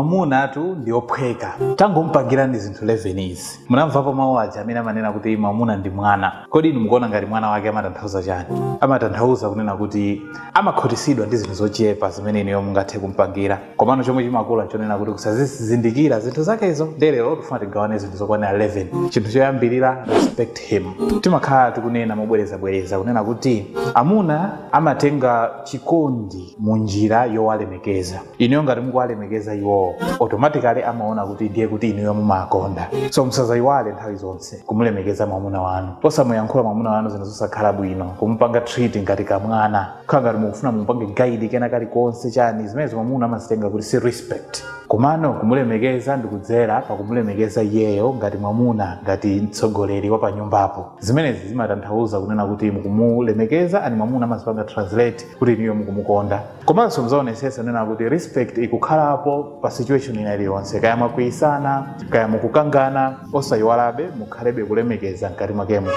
Mwamunatu ndi ophweka. Tangomupangirani zinthu 11 izi. Munamvapo mawu aja amene amanena kuti mwamuna ndi mwana. Kodi inu mukuona ngati mwana wake amatanthauza chani? Amatanthauza kunena kuti amakhutisidwa ndi zinthu zochepa zimene inuyo mungathe kumupangira. Komano chomwe chimakula nchonena kuti kusazizindikira zinthu zakezo. Ndiye lero tikufuna tigawane zinthu zokwanira 11. Chinthu choyambirira, respect him. Timakhala tikunena mobwerezabwereza kunena kuti amuna amatenga chikondi mu njira yowalemekeza. inuyo ngati mukuwalemekeza iwowo automatically amaona kuti ndiye kuti inuyo mumawakonda so musazayiwale nthawi zonse kumulemekeza mwamuna wanu osamuyankhula mwamuna wanu zinthu zosakhala bwino kumupanga treat ngati kamwana khala ngati mukufuna mumupange guide kena kake chani zimenezi mwamuna amazitenga kuti si respect komano kumulemekeza ndikudzera pakumulemekeza iyeyo ngati mwamuna ngati mtsogoleri wa panyumbapo zimenezi zimatanthauza kunena kuti mukumulemekeza and mwamuna amazipanga translate kuti inuyo mukumukonda komanso mudzionetsetsa kunena kuti respect ikukhalapo pa situation ina iliyonse kaya mwakwiyitsana kaya mukukangana osayiwalabe mukhalebe kulemekeza mkati mwakemo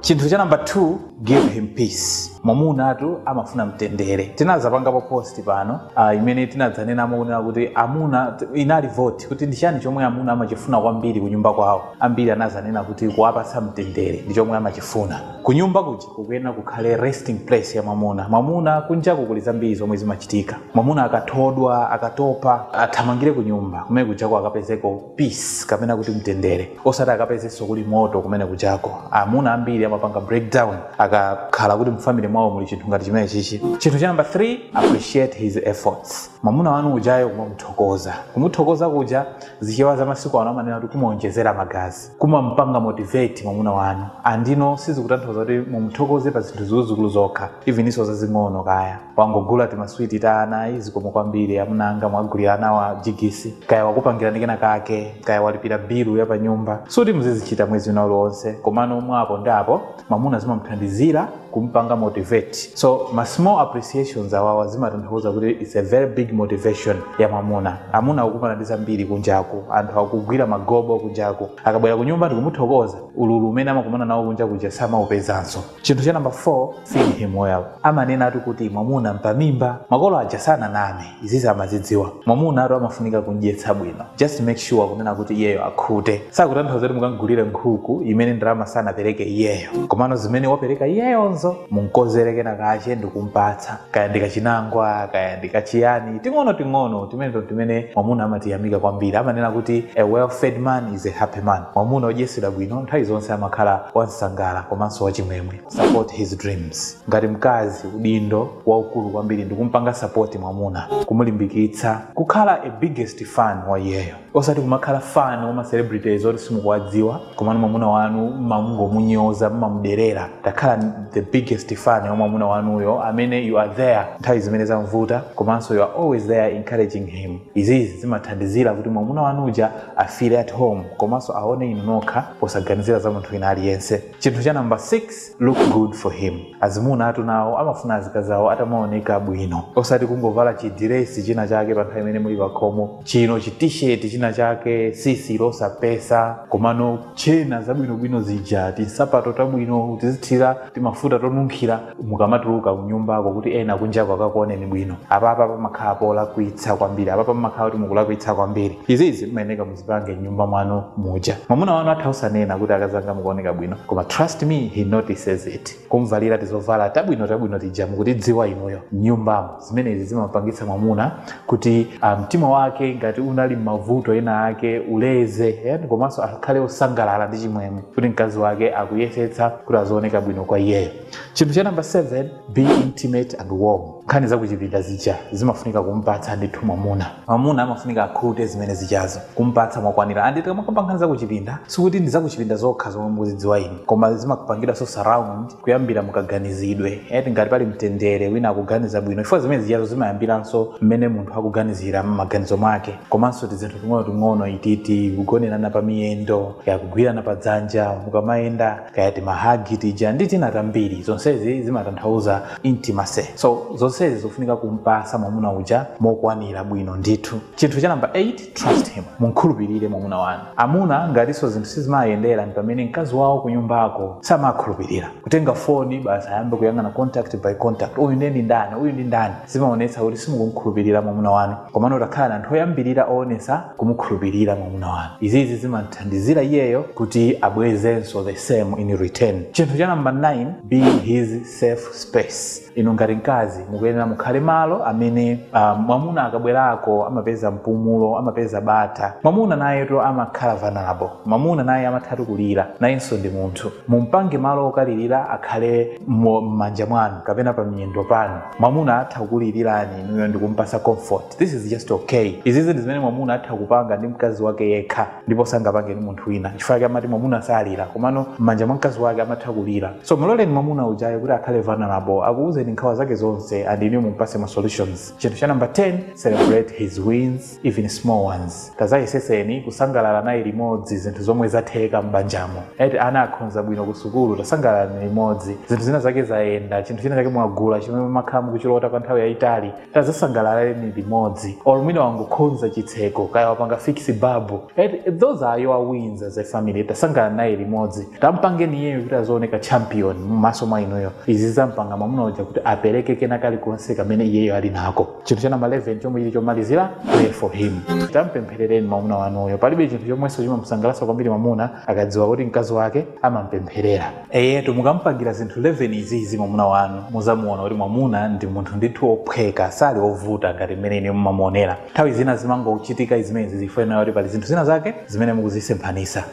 chinthu cha namba 2 give him peace mwamunatu amafuna mtendere tinadzapangapo post pano uh, imene tinadzanenamo kunena kuti amuna inali vote kuti ndi chani chomwe amuna amachifuna kwambiri kunyumba kwawo ambiri anadzanena kuti kuwapatsa mtendere ndi chomwe amachifuna kunyumba kuja kukuyenera kukhale resting place ya mwamuna mwamuna kunjaku kuli zambiri zomwe zimachitika mwamuna akathodwa akatopa athamangire kunyumba kumene kujako akapezeko peace kapena kuti mtendere osati akapezenso kuli moto kumene kujako amuna ambiri amapanga breakdown akakhala kuti mfamily mwawo muli chinthu ngati chimene chichi chinthu cha number 3 appreciate his efforts mwamuna wanu ujayo kumamuthokoza kumuthokoza kuja zichewa za masiku ano amanena kuti kumuonjezera magazi kumampanga motivate mwamuna wanu and no sizikutanthauza kuti mumthokoze pa zinthu zikuluzikulu zokha evennso zazing'ono kaya wangogula timaswiti ta ana ayi zikomo kwambiri amuna anga mwagulira anawa jigisi kaya wakupangirani kena kake kaya walipira bilu ya pa nyumba sikuti muzizichita mwezi wina uliwonse komano mwapo ndi apo mwamuna zimamthandizira kumpanga motivate so ma small appreciations awawa zimatanthauza kuti its a very big motivation ya mwamuna amuna akukumana ndi zambiri kunjaku anthu akugwira magobo kunjaku akabwera ku nyumba ndikumuthokoza ululu umene amakumana nawo kunja kuja samaupezanso chinthu cha namba 4 feed him well amanenatu kuti mwamuna mpamimba makolo aja sananame izizi amazidziwa mwamunatu amafunika kumdyetsa bwino just make sure kunena kuti iyeyo akhute sikutanthauza kuti mukamgulire nkhuku imene ndalama sanapereke iyeyo komano zimene wapereka iyeyozo mumkonzere kena kache ndikumpatsa kaya ndikachinangwa kaya ndikachiyani ting'ono ting'ono timeneto timene mwamuna amatiyamika kwambiri amanena kuti a well fed man is a happy man mwamuna odyetsedwa bwino nthawi zonse amakhala wamsangala komanso wachimwemwe support his dreams ngati mkazi udindo waukulu kwambiri ndikumpanga sapoti mwamuna kumulimbikitsa kukhala a biggest fan wa iyeyo osati kumakhala fan wa macelebrities oti simukuwadziwa komano mwamuna wanu mmamungomunyoza mmamuderera takhalani the biggest fan ya mwamuna wanuyo amene you are there nthawi zimene zamvuta komanso you are always there encouraging him izizi zimathandizira kuti mwamuna wanu uja afile at home komanso aone inu nokha posaganizira za munthu wina aliyense chinthu cha namba 6 look good for him azimuna atu nawo amafuna azikazi awo atamaoneka bwino osati kungovala chidiresi china chake pa nthawi imene muli pakhomo china chitisheti china chake sisi losapesa komano tchena zabwinobwino zija tinsapato tabwino tizithira timafuta tonunkhira mukamatuluka kunyumbako kuti ena kunjako akakuoneni bwino apapa pamakhala polakwitsa kwambiri apapa pamakhala kuti mukulakwitsa kwambiri izizi mmayeneka zipange mnyumba mwanu muja mwamuna wanu atha usanena kuti akazanga mukuoneka bwino koma trust me he notices it kumvalira tizovala tabwino tabwino tija mukutidziwa inuyo mnyumbamo zimenezi zimampangitsa mwamuna kuti ah, mtima wake ngati unali m'mavuto ena ake uleze eh, komanso akhale osangalala ndi chimwemwe kuti mkazi wake akuyesetsa kuti azioneka bwino kwa iyeyo chinthu cha namba 7 be intimate and warm nkhani zakuchipinda zija zimafunika kumpatsa ndithu mwamuna mwamuna amafunika akhute zimene zijazo kumpatsa mwakwanira and tikamakamba nkhani zakuchipinda sikuti ndi zakuchipinda zokha zomwe mukuzidziwa inu koma zimapanganso surround kuyambira mukaganizidwe eti ngati pali mtendere wina akuganiza bwino chifukwa zimene zijazo zimayambiranso mmene munthu akuganizira m'maganizo mwake komanso tizinthu ting'onoting'ono ititi kugonerana pa miyendo yakugwirana pa dzanja mukamayenda kaya timahagi tija ndi tina tambiri zonsezi zimatanthauza intimacy so zonsezi zofunika kumpasa mwamuna uja mokwanira bwino ndithu chinthu cha namba 8 trust him mumkhulupirire mwamuna wanu amuna ngatinso zinthu sizimayenda ndi pamene mkazi wawo kunyumbako samawakhulupirira kutenga foni basi ayambe kuyang'ana contact by contact uyu ndiye ndi ndani uyu ndi ndani zimaonetsa kuti simukumkhulupirira mwamuna wanu komano takhalani anthu oyambirira oonesa kumukhulupirira mwamuna wanu izizi zimamthandizira iyeyo kuti abwezenso the same in return chinthu cha namba 9 be his safe space inu ngati mkazi mukuyenera mukhale malo amene uh, mwamuna akabwerako amapeza mpumulo amapeza bata mwamuna nayetu amakhala vulnerable mwamuna naye amathatu kulira nayenso ndi munthu mumpange malo okalirira akhale m'manja mwanu kapena pa miyendo panu mwamuna atha kukulilirani inuyo ndikumpasa comfort this is just okay izizi ndi zimene mwamuna atha kupanga ndi mkazi wake yekha ndipo sangapange ndi munthu wina chifukwa chake amati mwamuna salira komano m'manja mwa mkazi wake amatha kulira so muloleni mwamuna ujayo kuti akhale vulnerable akuwuzeni nkhawa zake zonse and inuyo mumpase ma solutions chinthu cha number 10 celebrate his wins even small ones tazayeseseni kusangalala naye limodzi zinthu zomwe zatheka m'banjamo eti ana akhonza bwino ku sukulu tasangalalani limodzi zinthu zina zake zayenda chinthu china chake mwagula chimene makhala mukuchilota kwa nthawi yayitali tazasangalaleni limodzi or mwina wangokhonza chitseko kaya wapanga fix babu eti those are your wins as a family tasangalala naye limodzi tampangeni iyeyo kuti azooneka champion m'maso mwa inuyo izi zampanga mwamuna uja kuti apereke kena kalikonse kamene iyeyo ali nako chinthu cha namba 11 chomwe chili chomalizira pray for him tampempherereni mwamuna wanuyo palibe chinthu chomwenso chimamusangalatsa kwambiri mwamuna akadziwa kuti mkazi wake amampempherera eyetu mukampangira zinthu 11 izizi mwamuna wanu muzamuona kuti mwamuna ndi munthu ndithu ophweka sali ovuta ngati mmene inuyo mumamuonera nthawi zina zimangochitika zimenezi zifukwa kuti pali zinthu zina zake zimene mukuzisemphanisa